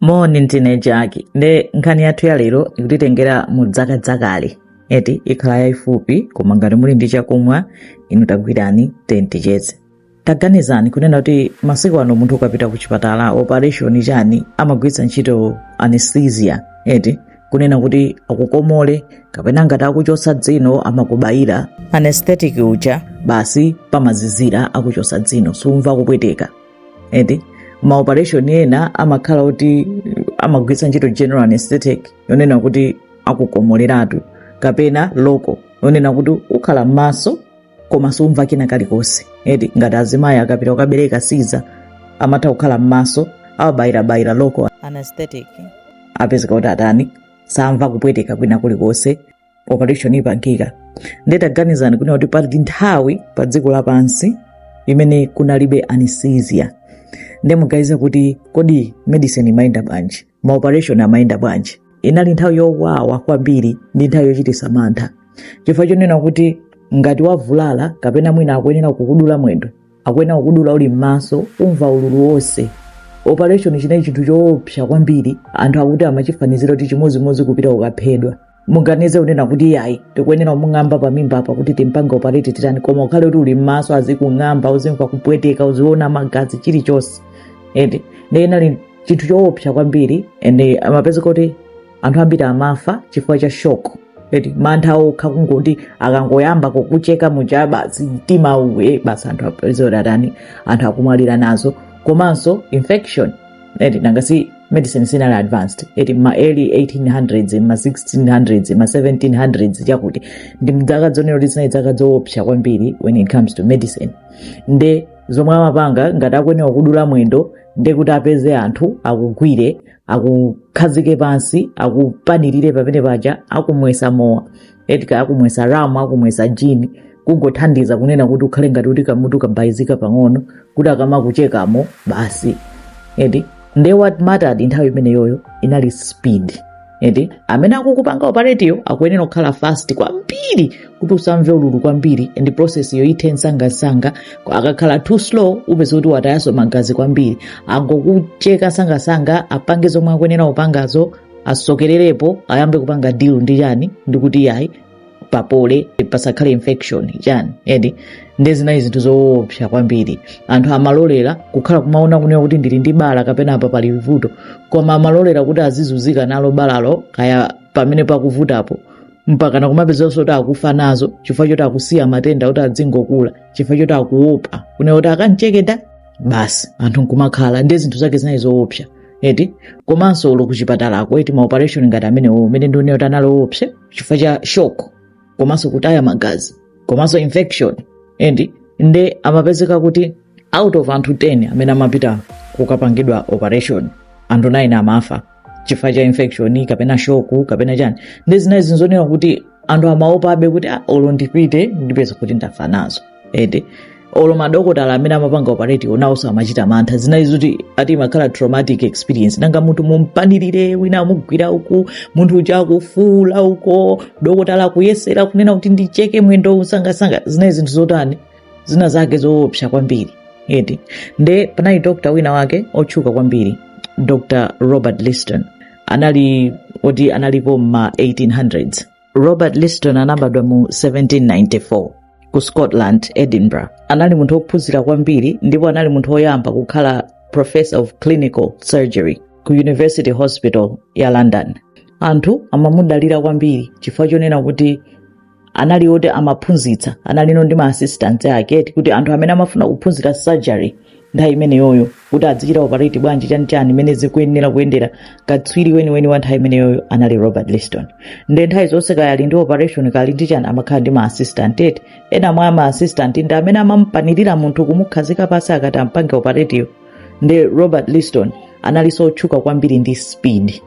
moni ndine jaki nde nkhani yathu ya lero ikutitengera mu dzaka dzakale eti ikhala yayifupi koma ngati muli ndi chakumwa inu tagwirani timacheze taganizani kunena kuti masiku ano munthu ukapita ku chipatala operation chani amagwiritsa ntchito anesthesia eti kunena kuti akukomole kapena ngati akuchotsa dzino amakubayira anesthetic uja basi pamazizira akuchotsa dzino sumva kupweteka eti maoperation ena amakhala oti amagwiritsa ntchito general anesthetic yonena kuti akukomoleratu kapena local yonena kuti ukhala m'maso koma sumva kina kalikonse eti ngati azimayi akapita kukabereka siza amatha kukhala m'maso awabayirabayira local anesthetic apezeka kuti atani samva kupweteka kwina kulikonse operation ipangika nde taganizani kunena kuti pali nthawi pa dziko lapansi imene kunalibe anesthesia nde muganiza kuti kodi medicine imayenda bwanji maoperation amayenda bwanji inali nthawi yowawa kwambiri ndi nthawi yochititsa mantha chifukwa chonena kuti ngati wavulala kapena mwina akuyenera kukudula mwendo akuyenera kukudula uli m'maso umva ululu wonse operation chinali chinthu choopsa kwambiri anthu akuti amachifanizira kuti chimodzimodzi kupita kukaphedwa muganize kunena kuti iyayi tikuyenera kumung'amba pamimba apa kuti timpange operate titani koma ukhale kuti uli m'maso azikung'amba uzimva kupweteka uziona magazi chilichonse ende nde inali chinthu choopsa kwambiri ende amapeza kuti anthu ambiri amafa chifukwa cha shock eti mantha okha kungoti akangoyamba kukucheka muja basi mtima uwe basi anthu apezeka kuti atani anthu akumwalira nazo komanso infection eti nanga si medicine sinali advanced eti ma early 1800s ma 1600s ma 1700s chakuti ndi mdzaka zonena kuti zinali dzaka zoopsa kwambiri when it comes to medicine nde zomwe amapanga ngati akuyenera kudula mwendo nde kuti apeze anthu akugwire akukhazike pansi akupanirire pamene paja akumwesa mowa eti akumwesa ramu akumwesa jini kungothandiza kunena kuti ukhale ngati kuti kamutu kabayizika pang'ono kuti akamakuchekamo basi eti nde what mattered nthawi imeneyoyo inali speed eti amene akukupanga operate yo akuyenera kukhala fast kwambiri kuti usamve ululu kwambiri and process yo ithe msangamsanga akakhala too slow upeza kuti watayaso magazi kwambiri angokucheka msangamsanga apange zomwe akuyenera kupangazo asokererepo ayambe kupanga deal ndi chani ndikuti yayi papole pasakhale infection chani eti nde zinali zinthu zoopsa kwambiri anthu amalolera kukhala kumaona kunena kuti ndili ndi bala kapena apa pali vuto koma amalolera kuti azizunzika nalo balalo kaya pamene pakuvutapo mpakana kumapezanso kuti akufa nazo chifukwa choti akusiya matenda kuti azingokula chifukwa choti akuopa kunena kuti akamcheketa basi anthu nkumakhala nde zinthu zake zinali zoopsa eti komanso olo kuchipatalako eti maoperation ngati amenewo mmene ndanenera kuti anali oopsa chifukwa cha shock komanso kutaya magazi komanso infection eti nde amapezeka kuti out of anthu 10 amene amapita kukapangidwa operation anthu 9 amafa chifukwa cha infection kapena shock kapena chani nde zinali zonena kuti anthu amaopabe kuti "Ah, olo ndipite ndipeza kuti ndafa nazo eti olo madokotala amene amapanga operate onawonso amachita mantha zinali zoti ati imakhala traumatic experience nanga munthu mumpanirire wina amugwira uku munthu uja akufuula uko dokotala akuyesera kunena kuti ndicheke mwendo nsangansanga zinali zinthu zotani zina zake zoopsa kwambiri eti nde panali doctor wina wake otchuka kwambiri dr robert liston anali oti analipo mma 1800s robert liston anabadwa mu 1794 ku scotland edinburgh anali munthu wophunzira kwambiri ndipo anali munthu woyamba kukhala professor of clinical surgery ku university hospital ya london anthu amamudalira kwambiri chifukwa chonena kuti anali oti amaphunzitsa analinso ndi ma assistant ake eti kuti anthu amene amafuna kuphunzira surgery nthawi imeneyoyo kuti azichita operate bwanji chanichani mmene zikuyenera kuyendera katswiri weniweni wa nthawi imeneyoyo anali robert liston nde nthawi zonse kaya ali ndi operation kaya ali ndi chani amakhala ndi ma assistant eti ena mwa ma assistant ndi amene amamupanirira munthu kumukhazika pansi akati ampange operateyo nde robert liston analinso otchuka kwambiri ndi speed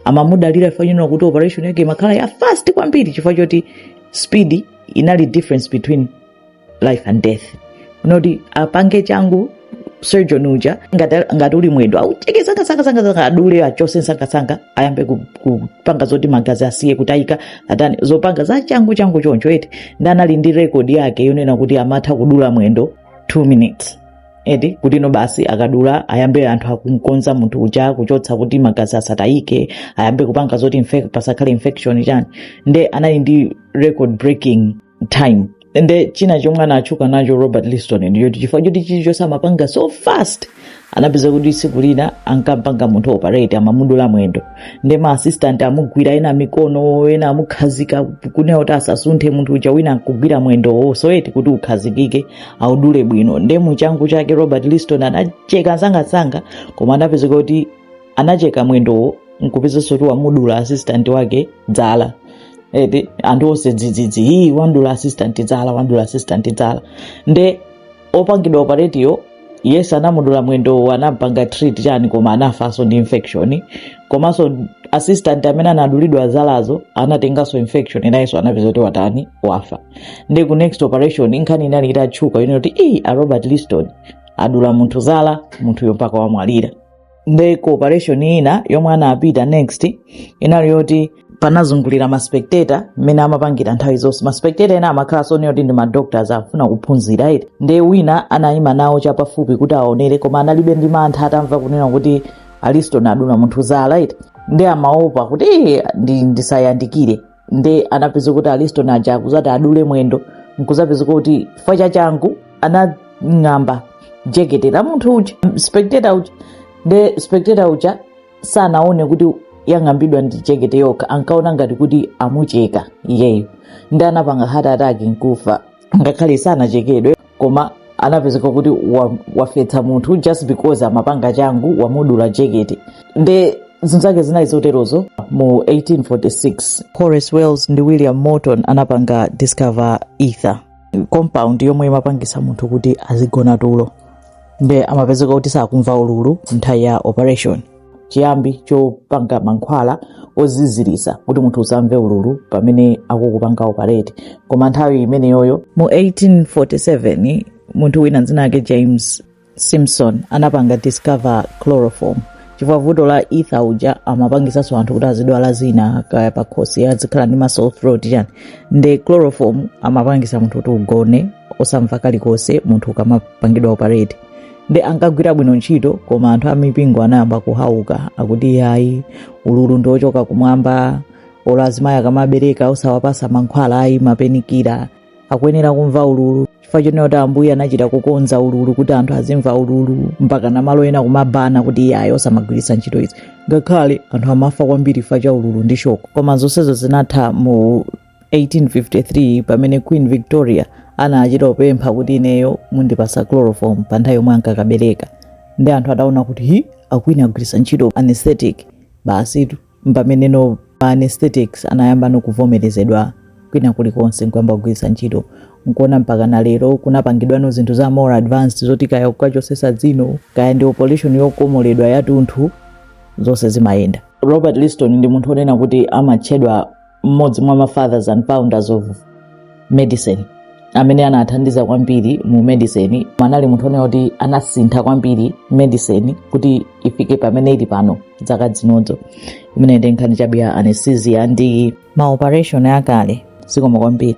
amamudalira chifukwa chonena kuti operation yake imakhala ya fast kwambiri chifukwa choti speed inali difference between life and death kunoti apange changu surgeon uja ngati, ngati uli mwendo aucheke nsangansanga adule achose nsangansanga ayambe ku- kupanga zoti magazi asiye kutayika atani zopanga za changu changu choncho eti nde anali ndi record yake yonena kuti amatha kudula mwendo 2 minutes eti kuti no basi akadula ayambe anthu akumkonza munthu uja kuchotsa kuti magazi asatayike ayambe kupanga zoti infec- pasakhale infection chani nde anali ndi record breaking time nde china chomwe anatchuka nacho robert liston ndi choti chifukwa choti chilichonse amapanga so fast anapeza kuti tsiku lina ankampanga munthu operate amamudula mwendo nde ma assistant amugwira ena mikono ena amukhazika kunena kuti asasunthe munthu uja wina akugwira mwendowo so eti kuti ukhazikike audule bwino nde muchangu chake robert liston anacheka nsangansanga koma anapezeka kuti anacheka mwendowo nkupezanso kuti wamudula assistant wake dzala eti anthu onse dzidzidzi ii wamdula assistant dzala wamdula assistant dzala nde opangidwa operate uja yes anamudula mwendowo anampanga treat chani koma anafanso ndi infection komanso assistant amene anadulidwa zalazo anatenganso infection nayenso anapeza kuti watani wafa nde ku next operation nkhani inali itatchuka yonena kuti ii a robert liston adula munthu zala munthuyo mpaka wamwalira nde ku operation ina yomwe anapita next inali yoti panazungulira maspectator mmene amapangira nthawi zonse maspectator ena amakhala sono oti ndi madoctors afuna kuphunzira iti nde wina anayima nawo chapafupi kuti aonere koma analibe ndi mantha atamva kunena kuti a liston adula munthu zala iti nde amaopa kuti "Eh, ndi- ndisayandikire nde anapezeka kuti a liston aja akuzati adule mwendo nkuzapezeka kuti chifukwa cha changu anang'amba jekete la munthu uja spectator uja nde spectator uja sanaone kuti yang'ambidwa ndi jekete yokha ankaona ngati kuti amucheka iyeyo nde anapanga heart attack nkufa ngakhale sanachekedwe koma anapezeka kuti wa- wafetsa munthu just because amapanga changu wamudula jekete nde zinthu zake zinali zoterozo mu 1846 horace wells ndi william morton anapanga discover ether compound yomwe imapangisa munthu kuti azigona tulo nde amapezeka kuti sakumva ululu nthawi ya operation chiyambi chopanga mankhwala oziziritsa kuti munthu usamve ululu pamene akukupanga operate koma nthawi imeneyoyo mu 1847 munthu wina dzina lake james simpson anapanga discover chloroform chifukwa vuto la ether uja amapangisanso anthu kuti azidwala zina kaya pakhosi azikhala ndi ma sore throat chani nde chloroform amapangisa munthu kuti ugone osamva kalikonse munthu ukamapangidwa operate nde ankagwira bwino ntchito koma anthu amipingo anayamba kuwaukira akuti iyayi ululu ndi ochoka kumwamba olo azimayi akamabereka osawapasa mankhwala ayi ma painkiller akuyenera kumva ululu chifukwa chonena kuti ambuye anachita kukonza ululu kuti anthu azimva ululu mpaka malo ena kuma banna kuti iyayi osamagwiritsa ntchito izi ngakhale anthu amafa kwambiri chifukwa cha ululu ndi shock koma zonsezo zinatha mu 1853 pamene queen victoria anachita kupempha kuti ineyo mundipasa chloroform pa nthawi yomwe ankakabereka nde anthu ataona kuti ii a queen agwiritsa ntchito anesthetic basitu mpamene no ma anesthetics anayamba nokuvomerezedwa kwina kulikonse nkuyamba kugwiritsa ntchito nkuwona mpaka na lero kunapangidwano zinthu za more advanced zoti kaya kukachosesa dzino kaya ndi operation yokomoledwa yatunthu zonse zimayenda robert liston ndi munthu onena kuti amatchedwa mmodzi mwa ma fathers and founders of medicine amene anathandiza kwambiri mu medicine anali munthu onena kuti anasintha kwambiri medicine kuti ifike pamene ili pano zaka zinozo imeneyi ndi nkhani chabe ya anesthesia ndi maoperation akale zikomo kwambiri